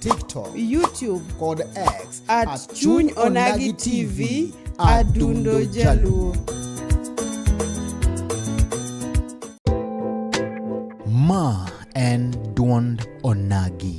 TikTok, YouTube kod X at, at Chuny Onagi TV Adundo Jaluo. Ma en duond Onagi.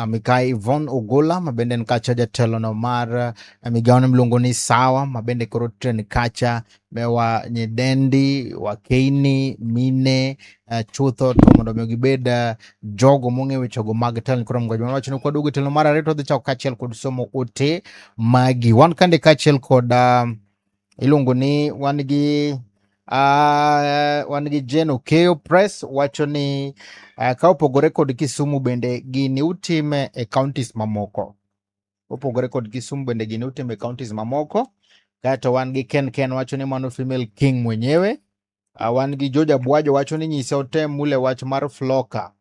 Ah, Mikai Ivon Ogola mabende en kacha jatelono mar eh, migawone miluongo ni Sawa mabende koro tren kacha mewa nyidendi wakeini mine uh, chutho to mondo mi gibed uh, jogo mong'eyo wechego mag telo koro mgojo wacho ni kwaduogo telo mar ariyo to dhi chako kaachiel kod somo ote magi wan kande kaachiel kod uh, iluongo ni wan gi uh, wan gi Jeno Keyo Press wacho ni uh, ka opogore kod Kisumu bende gini utime e counties mamoko opogore kod Kisumu bende gini utime e counties mamoko kaeto wan gi Ken Ken wacho ni mano female king mwenyewe Uh, wan gi George Abwajo wacho ni nyise otem mule wach mar floka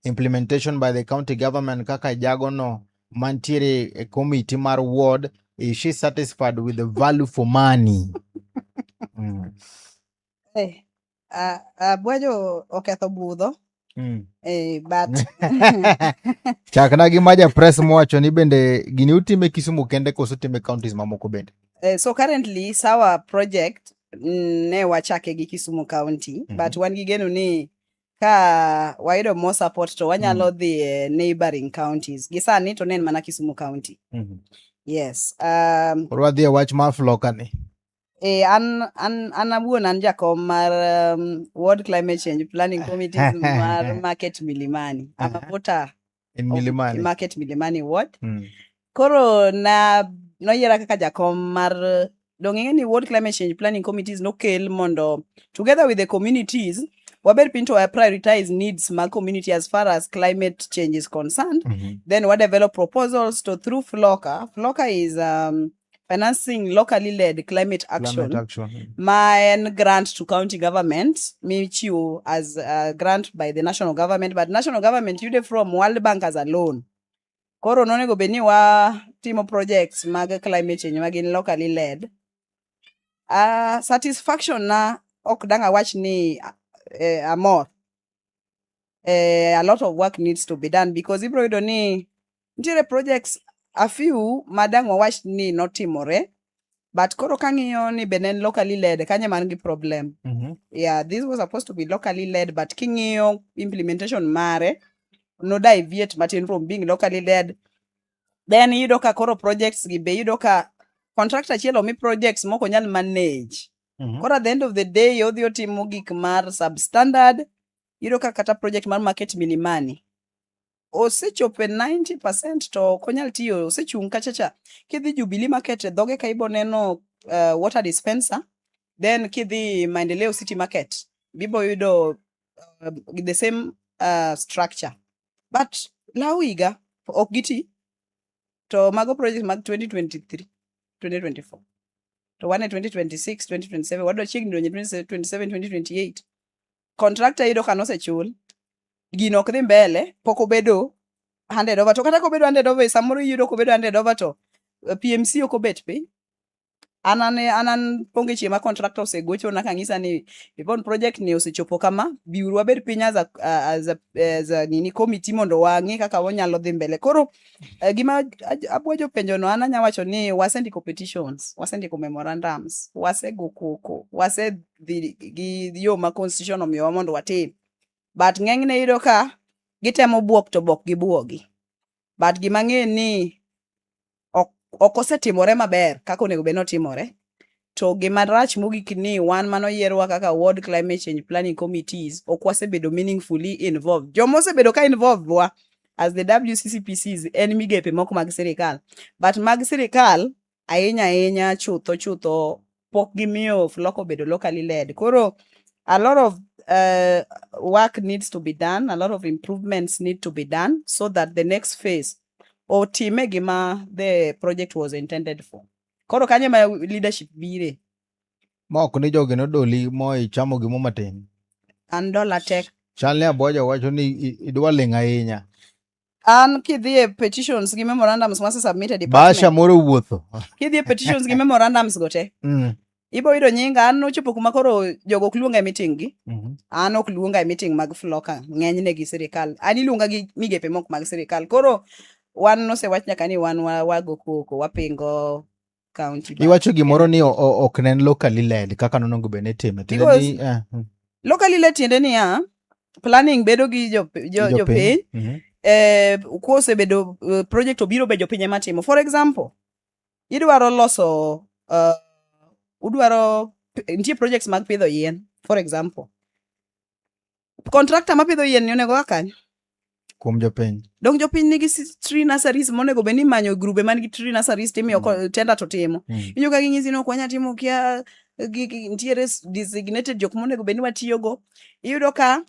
implementation by the county government kaka jagono mantiere e committee mar ward is she satisfied with the value for money mm. hey, uh, uh, Abwajo oketho budho Mm. Eh, but Chak na gi maja press mowacho ni bende gini utime Kisumu kende koso utime counties mamoko bende. eh, so currently sawa project mm, ne wachake gi Kisumu County Mhm. but wan gi geno ni ka wayudo more support to wanyalo dhi e neighboring counties. Gi sani to ne en mana Kisumu County. Yes. Um, Koro wadhi e wach mar floka ni. Eh, an, an, an awuon an jakom mar um, World Climate Change Planning Committee mar Market Milimani. I'm a Uh-huh. voter in of milimani Market Milimani Ward. Mm. Koro na noyiera kaka jakom mar uh, dong' ing'e ni World Climate Change Planning Committees nokel mondo together with the communities wabed piny to wa prioritize needs mag community as far as climate change is concerned Mhm. then we develop proposals to through flocker flocker is um, financing locally led climate action, climate action. ma en grant to county government michiwo as a grant by the national government but national government yude from world bank as a loan koro nonego bed ni watimo projects mag climate change ma gin locally led uh, satisfaction na ok dang awach ni uh, amor eh, a lot of work needs to be done because ibro yudo ni nitiere projects a few madang wawach ni notimore but koro kang'iyo ni bende en locally led kanye man gi problem mm -hmm. yeah this was supposed to be locally led but king'iyo implementation mare no deviate matin from being locally led then iyudo ka koro projects gi be iyudo ka contractor achiel omi projects moko nyal manage mm -hmm. koro at the end of the day odhi otimo gik mar substandard Iyudo ka kata project mar market milimani osechopo e 90% to ok onyal tiyo, osechung' kachacha. Kidhi Jubilee Market e dhoge ka ibo neno uh, water dispenser, then kidhi Maendeleo City Market bibo yudo uh, the same uh, structure. But law higa ok giti to mago project mag 2023 2024 to wan e 2026 2027 wadwa chiegni donjo 2027 2028 contractor yudo ka nosechul gino ok dhi mbele pok obedo handed over to kata kobedo handed over samoro iyudo kobedo handed over to eh, PMC ok obet piny anane anan ponge chieng' ma contractor osegocho na kang'isa ni Yvonne project ni osechopo kama biuru wabed piny as a, as a, as a nini committee mondo wang'e kaka wanyalo dhi mbele koro uh, gima abwajo penjo no an anya wacho ni wasendiko petitions wasendiko memorandums wasego koko wase dhi gi yo ma constitution omiyowa mondo watim but ng'enyne yudo ka gitemo buok to bok gibuogi but gima ng'e ni ok ok osetimore maber kaka onego bed notimore to gima rach mogik ni wan mano yierwa kaka World Climate Change Planning Committees ok wasebedo meaningfully involved joma osebedo ka involved wa as the WCCPCs en migepe moko mag sirikal but mag sirikal ahinya ahinya chutho chutho pok gimiyo flock obedo locally led koro a lot of uh, work needs to be done a lot of improvements need to be done so that the next phase otime gima the project was intended for koro kanye ma leadership bire mok ni jogi nodoli mo ichamo gimo matin an dola tek chal ni aboja wacho ni idwa ling' ahinya an kidhi e petitions gi memorandums mase submitted basha moro wuotho kidhi e petitions gi memorandums go te mm. ibo yudo nyinga an nochopo kuma koro jogo ok luonga e meeting gi mm -hmm. an ok luonga e meeting mag floka ng'enyne gi sirikal an iluonga gi migepe mok mag sirikal koro wan nosewach nyaka ni wan wago koko wapingo county. but- Iwacho gimoro ni o- o- ok ne en locally led kaka nonego bed ni itime. Tiende Because- ni, eh, mm, Locally le tiende niya, planning bedo gi jo- jo- jopiny. jopiny, Mhm. eh, kosebedo eh, project obiro be jopiny ema timo. For example, idwaro loso, eh, udwaro, nitie projects mag pidho yien, for example. kontrakta mapidho yien ni onego akanyo kuom jopiny donk jopiny nigi tree nurseries monego bed ni manyo grube man gi tree nurseries timiyo mm. tenda to timo mm. inyo ka ginyisi ni ok wanya timo kia nitiere designated jok monego bed ni watiyogo iyudo ka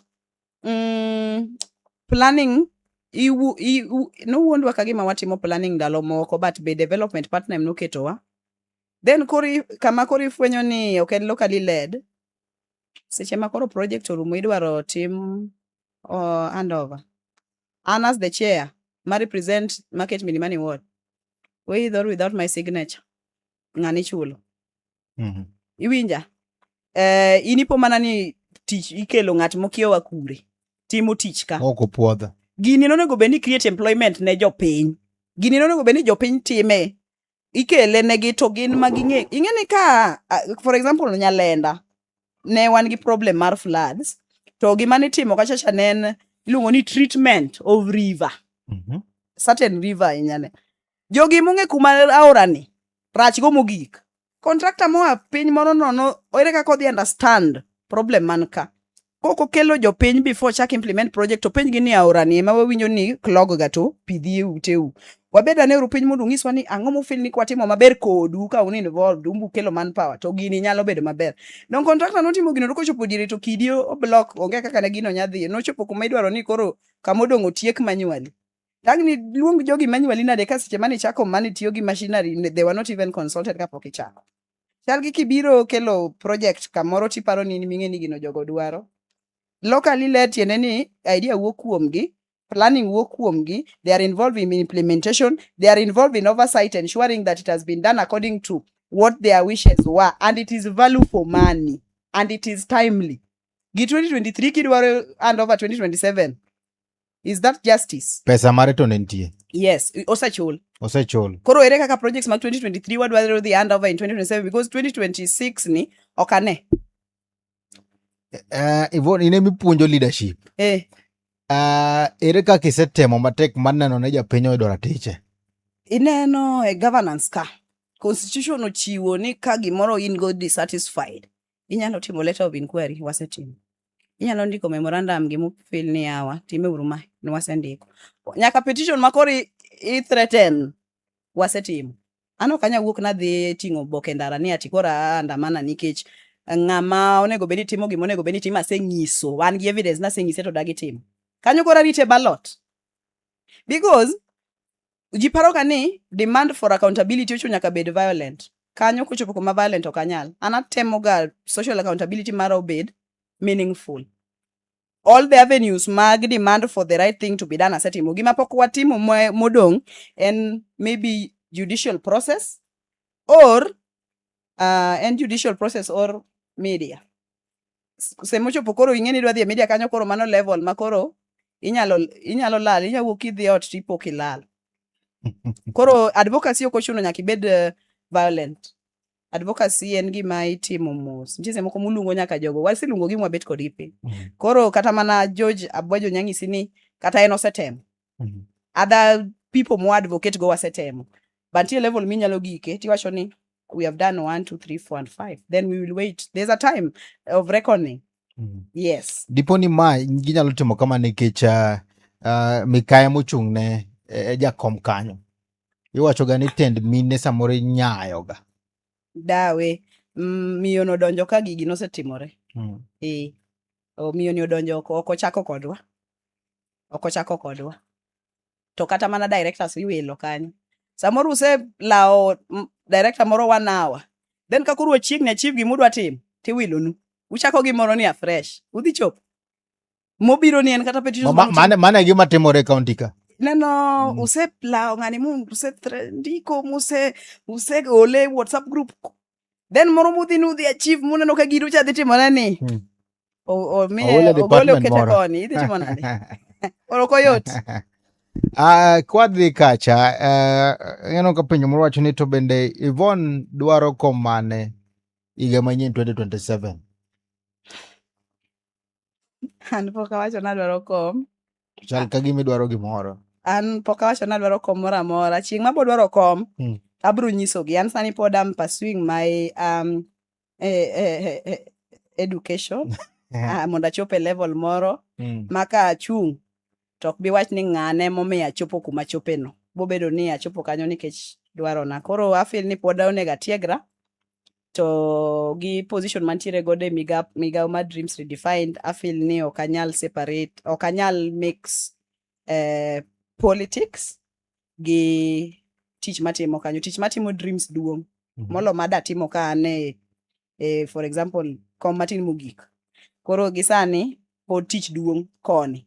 mm, planning nowuondwa ka gima watimo planning ndalo moko but be development partner em noketowa then kori kama koro ifwenyo ni ok en locally led seche ma koro project orumo idwaro tim uh, handover an as the chair ma represent market milimani ward with or without my signature ng'ani ichulo Mhm. iwinja eh, in ipo mana ni tich ikelo ng'at mokiewa kure timo tich ka ok opwodha gini nonego bed ni create employment ne jopiny gini nonego bed ni jopiny time ikele ne gi to gin ma ging'e ing'e ni ka for example nyalenda ne wan gi problem mar floods to gima nitimo kachacha ne en iluongo ni treatment of river mm -hmm. certain river inyane jogi mong'e kuma aorani rach go mogik contractor moa piny moro nono ere kaka odhi understand problem man ka kok okelo jopiny before chak implement project to penj gi ni aora ni ema wawinjo ni clog ga to pidhi e uteu wabed ane uru piny mondo ung'iswa ni ang'o mufil ni kwatimo maber kodu ka un involved umbu kelo manpower to gini nyalo bedo maber don contractor notimo gino to kochopo diere to kidi oblock onge kaka ne gino nyadhi nochopo kuma idwaro ni koro kama odong' otiek manually tangni luong jogi manually nade ka seche mane ichako mane tiyo gi machinery they were not even consulted kapok ichako chal gi kibiro kelo project kamoro tiparo ni in ming'e ni gino jogo dwaro locally led tiende ni idea wuok kuomgi planning wuok kuomgi they are involved in implementation they are involved in oversight ensuring that it has been done according to what their wishes were and it is value for money and it is timely gi 2023 kidwaro hand over 2027 is that justice pesa mare to ne nitie yes osechul osechul koro ere kaka projects mag 2023 wadwaro dhi hand over in 2027 because 2026 ni ok ane uh, eh, Yvonne, ine mipuonjo leadership eh. uh, ere kaka isetemo matek mar neno ne japiny oyudo ratiche ineno e governance ka constitution ochiwo ni ka gimoro in go dissatisfied Inyalo timo letter of inquiry, wasetimo. Inyalo ndiko memorandum gi mufil ni yawa, time uru ma, ne wasendiko. Nyaka petition ma koro i- i threaten, wasetimo. An ok anyal wuok nadhi ting'o oboke ndara ni ati koro aandamana nikech ng'ama onego bed ni timo gima onego bed ni timo asenyiso, an gi evidence naseng'ise to dagi timo. Kanyo koro arite ballot. Because ji paroga ni demand for accountability ocho nyaka bed violent kanyo kochopo kuma violent ok anyal an atemoga social accountability mara obed meaningful all the avenues mag demand for the right thing to be done asetimo gima pok watimo modong' en maybe judicial process or uh, en judicial process or media semochopo koro ing'e ni idwa dhi e media kanyo koro mano level ma koro inyalo inyalo lal inyalo wuok idhi ot to ipo kilal koro advocacy ok ochuno nyaka ibed uh, violent advocacy en gima itimo mos nitie moko muluongo nyaka jogo wasiluongo gi mwabet kodgi piny mm. koro kata mana George Abwajo nyang'isi ni kata en osetemo Mhm. other people mo advocate go wasetemo but nitie level minyalo gike tiwacho ni we have done one two three four and five then we will wait there's a time of reckoning Mhm. yes dipo ni ma ginyalo timo kama nikech ah, ah, mikaya mochung' ne e jakom kanyo iwachoga ni tend mine samoro inyayoga dawe mm, miyo nodonjo ka gigi nosetimore Mm. e o miyo ni odonjo ok ok ochako kodwa ok ochako kodwa to kata mana directors iwilo kanyo samoro uselawo mm, director moro one hour then ka koro wachiegni achieve gimudwa timo tiwilonu uchako gimoro ni afresh udhi chopo mobiro ni en kata petitions Ma- ma- mane mane gima timore e kaunti ka neno Mm. uselawo ng'ani mu usendiko muse useole whatsapp group then moro mudhi nudhi achieve muneno ka gino cha dhi timore ni hmm. omiye ogole okete koni idhi timo nade oro ok oyot Uh, kwadhi kacha uh, ineno ka penjo moro wacho ni to bende Yvonne dwaro kom mane higa manyien 2027 an pok awacho ni adwaro kom To chal ka gima idwaro gimoro an pok awacho ni adwaro kom moro amora chieng' ma bodwaro kom Mm. abro nyisogi an sani pod am pursuing my um, eh, eh, eh, eh, education ah, mondo achop e level moro Mm. ma ka achung' to ok bi wach ni ng'ane momiyo achopo kuma achopeno bobedo ni achopo kanyo nikech dwarona koro afil ni pod onego atiegra to gi position mantiere godo e migawo mar dreams redefined afil ni ok anyal separate ok anyal mix eh, politics gi tich matimo kanyo tich matimo dreams duong' Mhm. molo madatimo ka an e, e for example kom matin mogik koro gisani pod tich duong' koni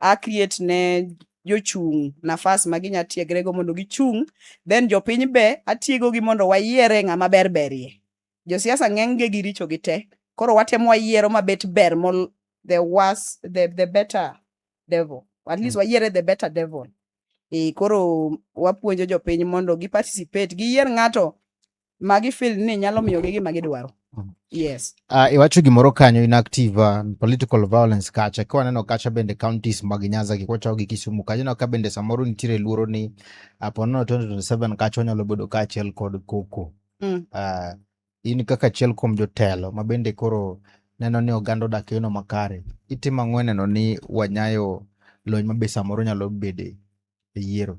a create ne jochung' nafas ma ginya tiegrego mondo gichung' then jopiny be atiegogi mondo wayiere ng'ama ber berie josiasa ng'enyge gi richo gi te koro watemo wayiero mabet ber mol the worse, the, the better devil at least wayiere the better devil e koro wapuonjo jopiny mondo gi participate giyier ng'ato ma gifil ni nyalo miyogi gima gidwaro mm. yes uh, iwacho gimoro kanyo inactive uh, political violence kacha ka waneno kacha bende counties mag nyanza gi kwachawo gi kisumu kacha ineno ka bende samoro nitiere luoro ni apo nono 2027 kacha wanyalo bedo ka achiel kod koko mm. uh, in kaka achiel kuom jotelo ma bende koro neno ni oganda odak eno makare itimo ang'o neno ni wanyayo lony ma be samoro nyalo bede e yiero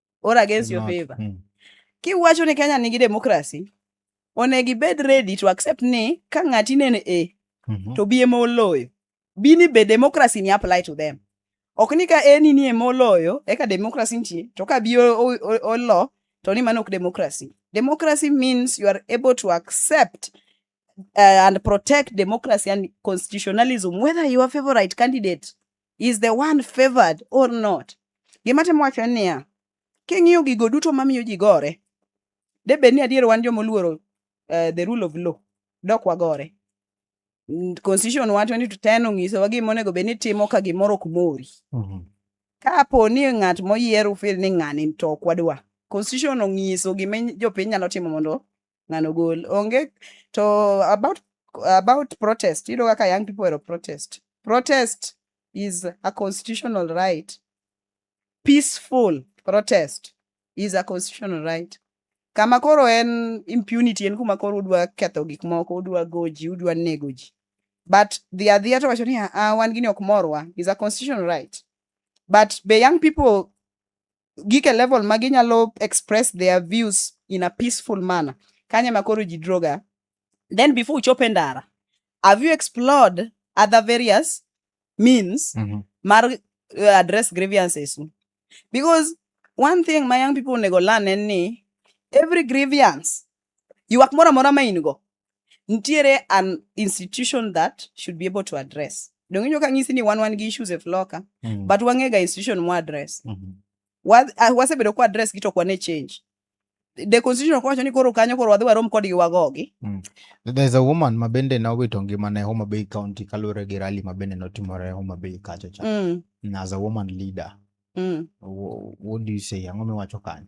or against your favor mm. kiwacho ni kenya nigi democracy onego ibed ready to accept ni ka ng'ati nene a e, mm -hmm. to bi ema oloyo bi ni be democracy ni apply to them ok ni ka eni ni ema oloyo eka democracy nitie to ka bi olo to ni mano ok democracy democracy means you are able to accept uh, and protect democracy and constitutionalism whether your favorite candidate is the one favored or not. Gima temo wacho en niya, king'iyo gigo duto mamiyo ji gore, de bed ni adier wan joma oluoro uh, the rule of law, dok wagore. Mm, Constitution wa 20 to 10 onyisowa gima onego bed ni timo ka gimoro ok mori. Mhm. Kapo ni ng'at moyier ufil ni ng'ani to ok wadwa. Constitution onyiso gima jopiny nyalo timo mondo ng'ano gol onge to about about protest you know kaka young people were protest protest is a constitutional right peaceful protest is a constitutional right kama koro en impunity en kuma koro udwa ketho gik moko udwa goji udwa nego ji but the adhia to wacho ni ah, wan gini ok morwa is a constitutional right but be young people gike level ma ginyalo express their views in a peaceful manner kanye ma koro ji droga then before uchop e ndara have you explored other various means mm -hmm. mar uh, address grievances because one thing my young people onego learn en ni every grievance Ywak moro amora ma in go, nitiere an institution that should be able to address. Donge inyo ka ng'isi ni wan wan gi issues e floka, mm. but wang'e ga institution mo address. Mm -hmm. Wa, uh, wasebedo kwa address gi to kwa ne change. The constitution kwacho ni koro kanyo koro wadhi warom kodgi wagogi. Mm. There's a woman ma bende na owito ngima ne Homa Bay County kaluwore gi rally ma bende notimore Homa Bay kacho cha. Mm. As a woman leader. Mm. What, what do you say? Ang'o miwacho kanyo?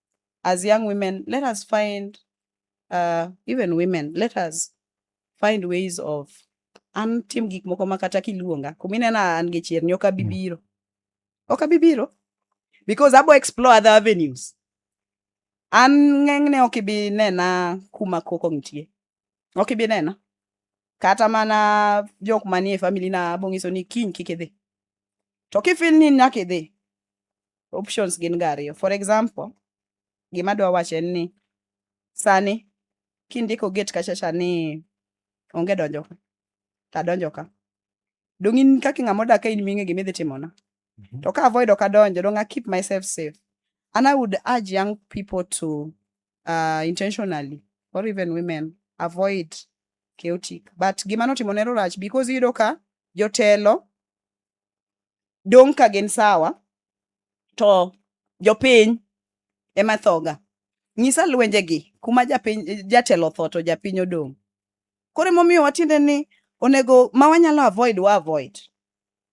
as young women, let us find, uh, even women, let us find ways of an tim gik moko ma kata kiluonga kuminena an gi chier ni ok abi mm. biro ok abi biro because abo explore other avenues an ng'enyne ok ibi nena kuma koko nitie ok ibi nena kata mana jok manie family na abong'iso ni kiny kik idhi to kifil ni nyaka idhi options gin ga ariyo. For example, gima adwa wacho en ni sani kindiko gate kachacha ni onge donjo ka, to adonjo ka. Dong' in kaka ng'ama odak ka in ming'e gima idhi timona. To ka avoid ok adonjo, dong' I keep myself safe. And I would urge young people to uh, intentionally or even women avoid chaotic. But gima notimo ne rach because iyudo ka jotelo dong' ka gin sawa to jopiny ema thoga. Nyisa lwenjegi kuma japiny jatelo otho to japiny odong'. Koro emomiyo watiende ni onego ma wanyalo avoid wa avoid.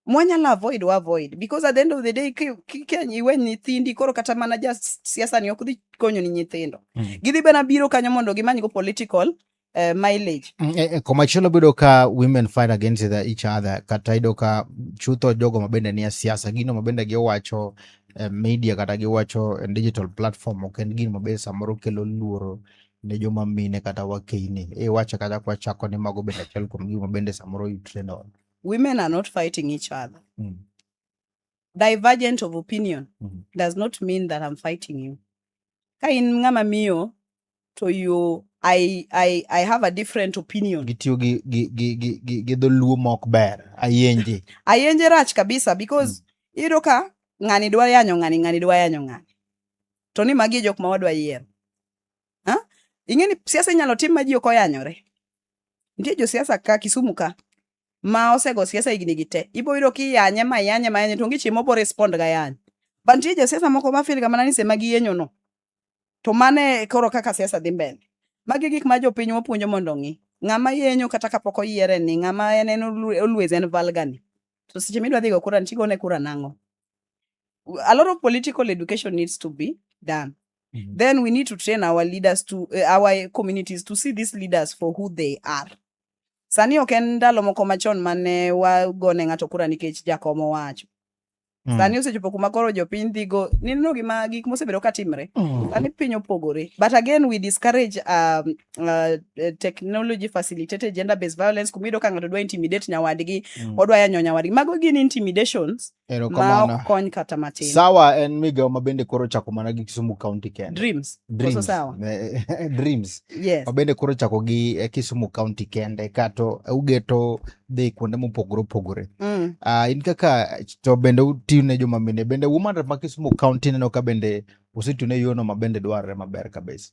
Mwanyalo avoid wa avoid because at the end of the day ki- ki- kia iwe nyithindi koro kata mana ja siasa ni ok dhi konyo ni nyithindo. Mm. Gidhi bana biro kanyo mondo gimanygo political uh, mileage mm, eh, eh, komachielo bedo ka women fight against each other kata yudo ka chutho jogo mabende nie siasa gino mabende giwacho eh, media kata giwacho eh, digital platform ok en gino mabende samoro kelo luoro ne joma mine kata wakeini iwacho kata kwachako ni mago bende achiel kuom gima bende samoro you train on women are not fighting each other mm. divergent of opinion mm -hmm. does not mean that I'm fighting you. Ka in ng'ama miyo to you I, I, I have a different opinion. Gitiyo gi, gi, gi, gi, gi, gi dholuo mok ber. Ayenje. Ayenje rach kabisa because mm. iyudo ka ng'ani dwa yanyo ng'ani, ng'ani dwa yanyo ng'ani. To ni magi e jok ma wadwa yiero. Ha? Ing'e ni siasa inyalo tim ma ji ok oyanyore. Nitie josiasa ka Kisumu ka ma osego siasa higni gi te ibo yudo ki yanye ma yanye ma yanye to onge chieng' mobo respond ga yanye but nitie josiasa moko ma feel ga mana ni sema giyenyo no to mano e koro kaka siasa dhi mbele magi gik ma jopiny wapuonjo mondo ong'i ng'ama yenyo kata kapok oyiere ni ng'ama en en olu- always en valgani to seche midwa dhigo kura ntigo ne kura nang'o a lot of political education needs to be done Mhm. then we need to train our leaders to uh, our communities to see these leaders for who they are Sani ok en ndalo moko machon mane wagone ng'ato kura nikech jakom owacho. Mm. Sani osechopo kuma koro jopiny dhigo nino gima gik mosebedo ka timre. Mm. Sani piny opogore. But again we discourage um, uh, technology facilitated gender based violence kumido ka ng'ato dwa intimidate nyawadgi, mm. odwa yanyo nyawadgi. Mago gin intimidations ma ok kony kata matin. Sawa en migawo ma bende koro chako mana gi Kisumu County kende. Dreams. Dreams. Sawa. Dreams. Yes. Ma bende koro chako gi eh, Kisumu County kende kato eh, ugeto dhi kuonde mopogore opogore. Mm. Uh, in kaka to bende utiyo ne joma mine bende woman rep ma Kisumu County neno ka bende osetiyo ne yono ma bende dwarore maber kabisa.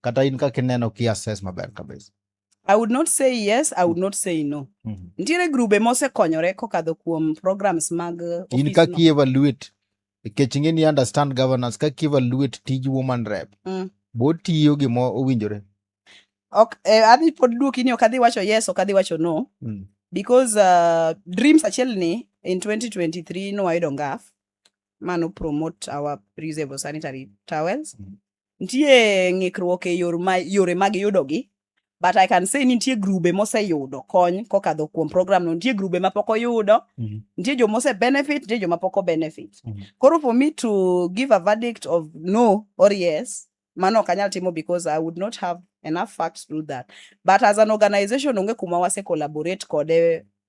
kata in kaka ineno ki assess maber kabisa I would not say yes, I would not say no. Mm -hmm. Nitiere grube mosekonyore kokadho kuom programs mag uh, in kaka no. evaluate nikech ing'e ni understand governance kaka evaluate tij woman rep mm. botiyo gima owinjore ok eh, adhi pod duoki ni ok adhi wacho yes ok adhi wacho no mm. because uh, dreams achiel ni in 2023 nowayudo ngaf mano promote our reusable sanitary towels mm. nitie ng'ikruok e yor ma, yore mag yudogi but i can say ni nitie grube moseyudo kony kokadho kuom program no nitie grube mapok oyudo Mhm. nitie joma ose benefit nitie joma pok obenefit Mhm. koro for me to give a verdict of no or yes mano ok anyal timo because i would not have enough facts to do that but as an organization onge kuma wase collaborate kode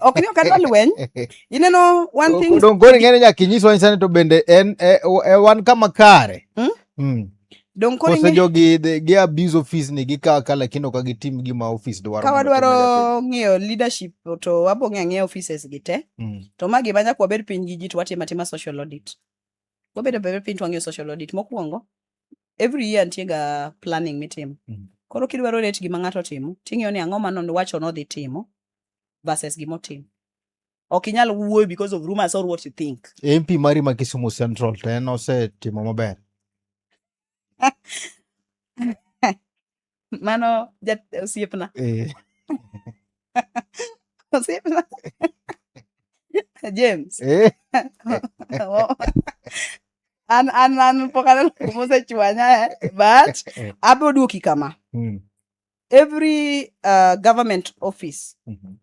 ok ni ok adwa lweny ineno one thing dongoni ng'ene nyaka inyiswa nyisani to bende en e, e, wan kama kare hmm? Hmm. Kose jogi gi abuse office ni gikawa ka lakini ok gitim gima office dwaro. Ka wadwaro ng'eyo leadership to wabo ng'eyo ang'eya offices gi te. Hmm. To ma gima nyaka wabed piny gi ji to watim atima social audit. Wabedo bebe piny to wang'eyo social audit mokwongo. Every year nitie ga planning mitimo. Koro kidwaro rate gima ng'ato timo, ting'eyo ni ang'o ma nowacho nodhi timo. versus gima otimo ok inyal wuoyo because of rumors or what you think mp mari ma kisumu central to en osetimo maber mano jat- osiepna Eh, osiepna james eh, an an an pok aneno kumosechwanya eh, but abiro duoki kama mm, every uh, government office mm -hmm.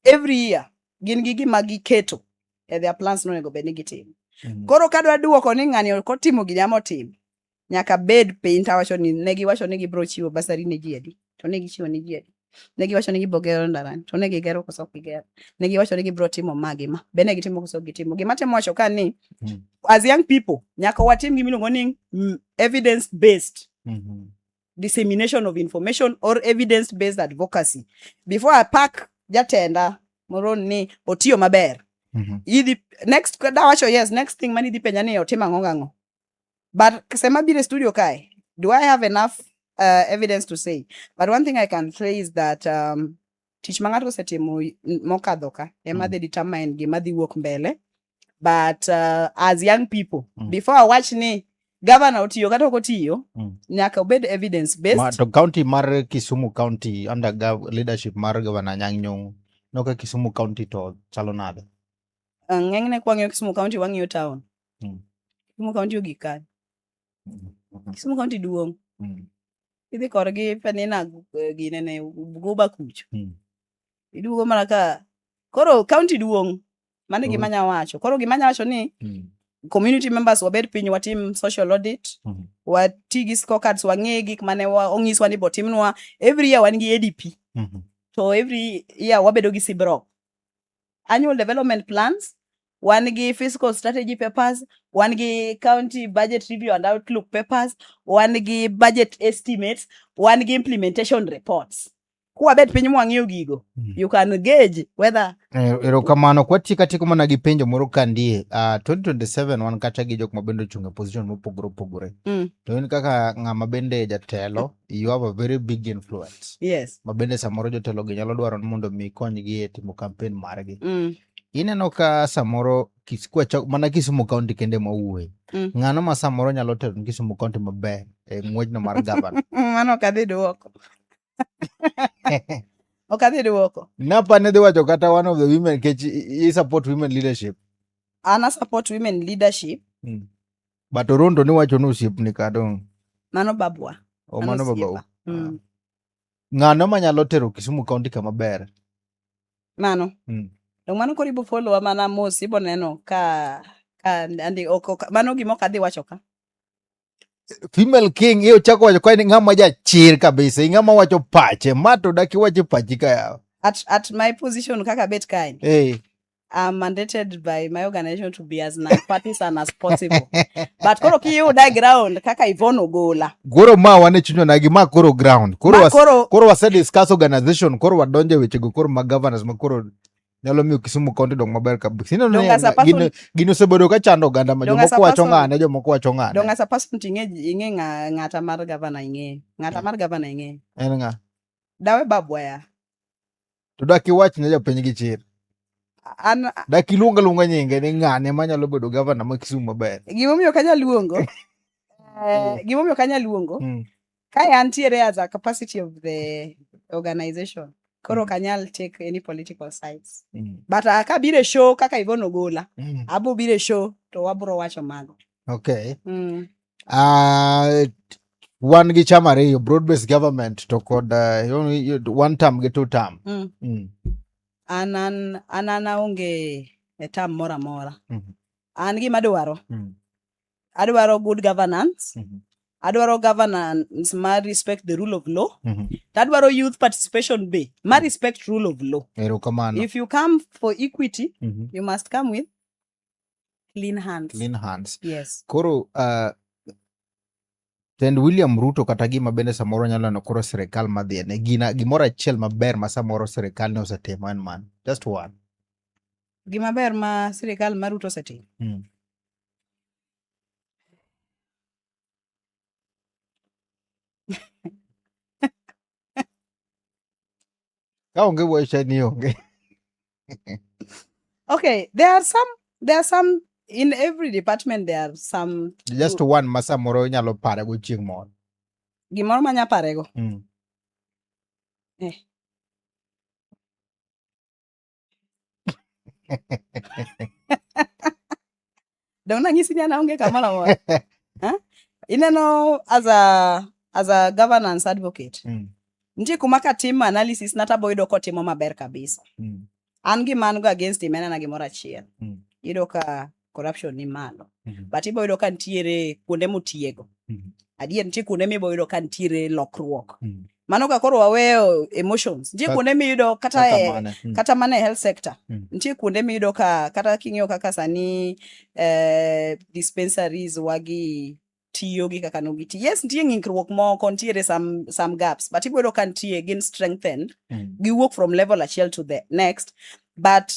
every year gin gi gima giketo e their plans nonego bed ni gitimo mm -hmm. koro kadwa duoko ni ng'ani ok otimo gini ama otimo nyaka bed piny tawacho ni ne giwacho ni gibiro chiwo basari ne ji adi to ne gichiwo ne ji adi ne giwacho ni gibiro gero ndarani to ne gigero koso ok gigero ne giwacho ni gibiro timo ma gi ma be ne gitimo koso ok gitimo gima temo wacho ka ni mm -hmm. as young people nyaka watim gima iluongo ni mm, evidence based mm -hmm. dissemination of information or evidence based advocacy before i pack jatenda moro ni otiyo maber mm -hmm. idhi next dawacho yes next thing mani idhi penja ni otim ang'o ng'ang'o but sema bire studio kae do i have enough uh, evidence to say but one thing i can say is that um, tich ma ng'ato osetimo mokadho ka ema mm. dhi determine gima dhi wuok mbele but uh, as young people mm. before awach ni gavana otiyo kata ok otiyo mm. nyaka obed evidence based Ma, to county mar Kisumu county under gov leadership mar gavana Anyang' Nyong'o noka Kisumu county to chalo nade uh, ng'enyne kwa ng'iyo Kisumu county wang'iyo town mm. Kisumu county ogik kanye Kisumu County duong'. Mm. Idhi korgi penina eh, gine ne Bugoba kucho. Mm. Iduogo mana ka koro county duong'. Mano gima nya wacho. Koro gima nya wacho ni mm. community members wabed piny watim social audit mm -hmm. wati gi scorecards wang'e gik mane onyiswa ni botimnwa every year wan gi adp mm -hmm. to every year wabedo gi sibrok annual development plans wan gi fiscal strategy papers wan gi county budget review and outlook papers wan gi budget estimates wan gi implementation reports kwabet piny mwang'iyo gigo hmm. you can gauge whether eh, erokamano kwatieko atieko mana gi penjo moro kandie uh, ah, 2027 wan kata gi jok ma bende ochung' e position mopogore opogore mm. to in kaka ng'ama bende jatelo you have a very big influence yes ma bende samoro jotelo gi nyalo dwaro ni mondo mi konygi e timo campaign margi mm. ineno ka samoro mana Kisumu kaunti kende mwawuoye mm. ng'ano ma samoro nyalo tero ni Kisumu kaunti maber e ng'wejno mar gavana mano ok adhi duoko ok adhi duoko napa ne dhi wacho kata one of the women kech i support women leadership an a support women leadership mm. but orondo ni wacho ni osiepni kadong mano babwa o mano babau mm. Ah. ng'ano manyalo tero Kisumu kaunti kama ber mano mm. to mano koro ibo follow wa mana mos ibo neno ka ka andi oko mano gimo kadhi wacho ka female king iyo chako wacho ka ng'ama jachir kabisa ing'ama wacho pache ma to daki wache pachi ka yawa at, at my position kaka bet kae hey. I'm mandated by my organization to be as nonpartisan as possible but koro kiyuda e ground kaka Yvonne Ogola koro ma wan e chunywa nagi ma koro ground koro was, koro, koro wase discuss organization koro wadonje weche go koro ma governors ma koro nyalo miyo Kisumu County dong maber kabisa. Ineno ni gino gino osebedo ka chando oganda ma jomoko wacho ng'ane jomoko wacho ng'ane. Dong asa person ting'e ing'e ng'ata mar governor ing'e. Ng'ata mar governor ing'e. En ng'a? Dawe Babwaya. To dak iwach ne jopiny gi chir. An dak iluong aluonga nyinge ni ng'ane manyalo bedo gavana ma Kisumu maber. Gimomiyo kanya luongo. Eh, mm. gimomiyo kanya luongo. Mm. Kae antiere as a capacity of the organization. Koro mm. kanyal take any political sides. Mm. But uh, ka bire show kaka Ivon Ogola. Mm. Abo bire show to wabro wacho mago. Okay. Mm. Uh, wan gi cham ariyo broad based government to kod uh, one term gi two term mm. Mm. an an an an aonge e term moro amora mm -hmm. an gima adwaro mm -hmm. adwaro good governance mm -hmm. adwaro governance ma respect the rule of law mm -hmm. tadwaro youth participation be ma mm. respect rule of law if you come for equity mm -hmm. you must come with clean hands. Clean hands. Yes. Koro uh, Tend William Ruto kata gima bende samoro nyalo neno koro sirikal madhiene gina gimoro achiel maber ma samoro sirikal ne osetimo en man just one gima ber ma sirikal ma Ruto osetimo hmm. ka onge wacha ni onge okay there are some there are some in every department there are some just one ma samoro inyalo pare go chieng' moro gimoro manya parego mm. eh. Don't know anything now. Get come on. Huh? You know, as a as a governance advocate, mm. nje kumaka team analysis nata boy do kote mama ber kabisa. Mm. An gi man go against him ena na gimora chiel. Mm. Ido ka corruption ni malo mm -hmm. but ibo yudo ka nitiere kuonde motiego mm -hmm. adier nitie kuonde mibo yudo ka nitiere lokruok mm -hmm. mano ka koro waweyo emotions nitie kuonde miyudo kata kata, e, mane. Mm. kata mana e health sector mm. nitie kuonde miyudo ka kata king'iyo kaka sani eh, dispensaries wagi tiyo gi kaka nogiti yes nitie ng'ikruok moko nitiere some, some gaps but iboyudo ka nitie gin strengthened mm. giwuok from level achiel to the next but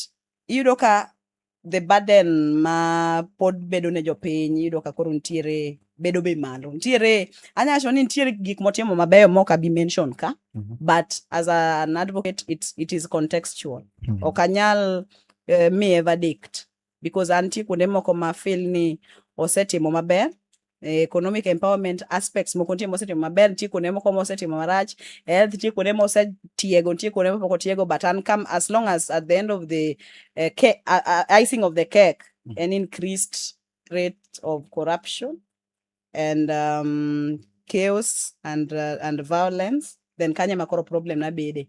iyudo ka the burden ma pod bedo ne jopiny iyudo ka koro nitiere bedo be malo nitiere anyalo wacho ni nitiere gik motimo mabeyo mok abi mention ka mm -hmm. but as an advocate it, it is contextual mm -hmm. ok anyal uh, miye verdict because antie kuonde moko ma feel ni osetimo maber Eh, economic empowerment aspects moko nitie mosetimo maber nitie kuonde moko mosetimo marach health nitie kuonde mosetiego nitie kuonde mopoko tiego but an come as long as at the end of the uh, cake, uh, uh, icing of the cake mm. an increased rate of corruption and um, chaos and, uh, and violence then kanye makoro problem nabede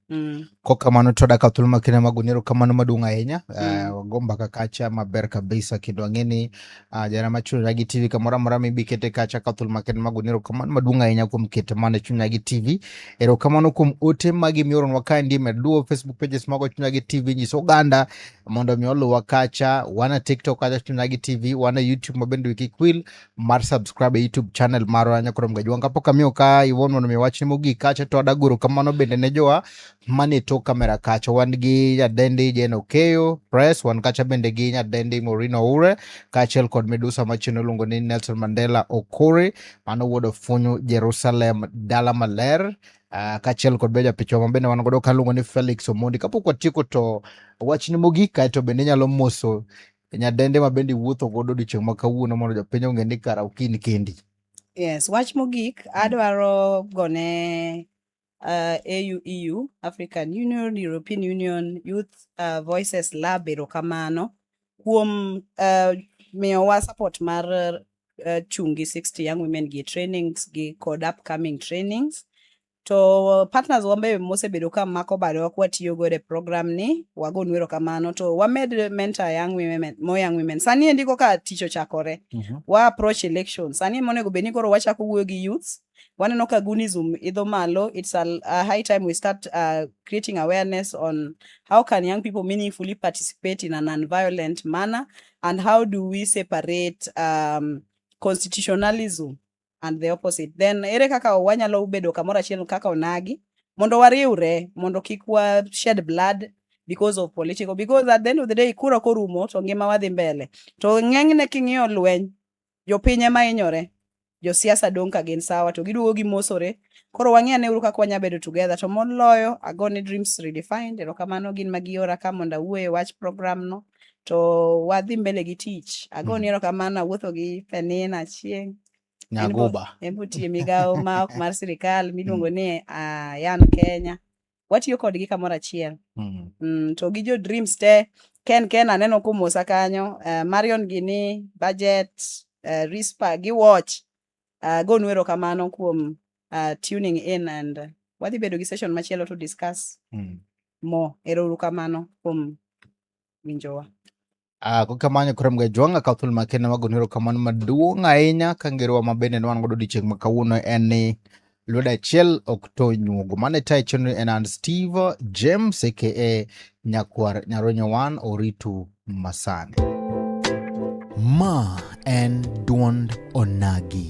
Mm. kok kamano to dak thuolo ma kinde mago nero kamano maduong' ahinya Mm. Eh, wago mbaka kacha maber kabisa kendo ang'e ni ah, jana machunira gi tv kamoro amora mibi kete kacha ka thuolo ma kinde mago nero kamano maduong' ahinya kuom kete mana chunya gi tv erokamano kuom ote magi mioronwa ka ndi med luwo facebook pages mago chunya gi tv nyis oganda mondo mi oluwa kacha wana tiktok kacha chunya gi tv wana youtube mabende wikikwil mar subscribe e YouTube channel marwa nyakoro mgajwang kapok amiyo ka iwon mondo mi wachni mogik kacha to adagoro kamano bende ne jowa mane tok kamera kacha wan gi nyadendi Jane Okeyo Press wan kacha bende gi nyadendi Maureen Oure kaachiel kod midusa machielo iluongo ni Nelson Mandela Okore mano wuod ofunyu Jerusalem dala maler uh, kaachiel kod be japichwa ma bende wan godo kaluongo ni Felix Omondi kapok watieko to wachni mogik kaeto bende inyalo moso Nyadende ma bende iwuotho godo odiechieng' ma kawuono mondo jopiny ong'e ni kara ok in kendi. Yes, wach mogik adwaro gone uh, AU, EU, African Union, European Union, Youth uh, Voices Lab erokamano kuom uh, miyowa support mar uh, chungi 60 Young Women gi trainings gi kod upcoming trainings To partners wambe mosebedo ka mako badewa kwa tiyo go e program ni, wago nwero kamano. To wamed mentor young women, more young women. Sani endi koka tich ochakore. Mm -hmm. Wa approach election. Sani monego beni koro wachako wuoyo gi youths. Waneno ka gunism idho malo. It's a, a high time we start uh, creating awareness on how can young people meaningfully participate in a non-violent manner and how do we separate um, constitutionalism and the opposite then ere kaka wanyalo bedo kamoro achiel kaka onagi mondo wariwre mondo kik wa shed blood because of political because at the end of the day kura korumo to ngima wadhi mbele to ng'enyne king'iyo lweny jopiny ema hinyore josiasa dong' ka gin sawa to giduogo gimosore koro wang'e ane uru kaka wanya bedo together to moloyo agone dreams redefined erokamano gin magiora ka mondo awuoye wach program no to wadhi mbele gi tich. Agoni mm. erokamano awuotho gi Penina Achieng'. Nyagoba. En botiye migawo ma ok mar sirikal miluongo ni uh, Yan Kenya. Watiyo kodgi kamoro achiel. Mm. Mm, to gi jo Dreams te Ken Ken aneno kumosa kanyo, uh, Marion Gini, Budget, uh, eh, Rispa gi Watch. Uh, eh, gonu erokamano kuom uh, tuning in and uh, wadhi bedo gi session machielo to discuss mm. more. Ero uru kamano kuom winjowa. Uh, kokamano kurom ga jwanga ka thul makene wago nero kamano maduong' ahinya ka ngerowa ma bende ne wan godo odiechieng' ma kawuono en ni lwedo achiel ok to nyuogo mane tayo chenro en an steve james aka nyakwar nyaronyo wan oritu masani ma en duond onagi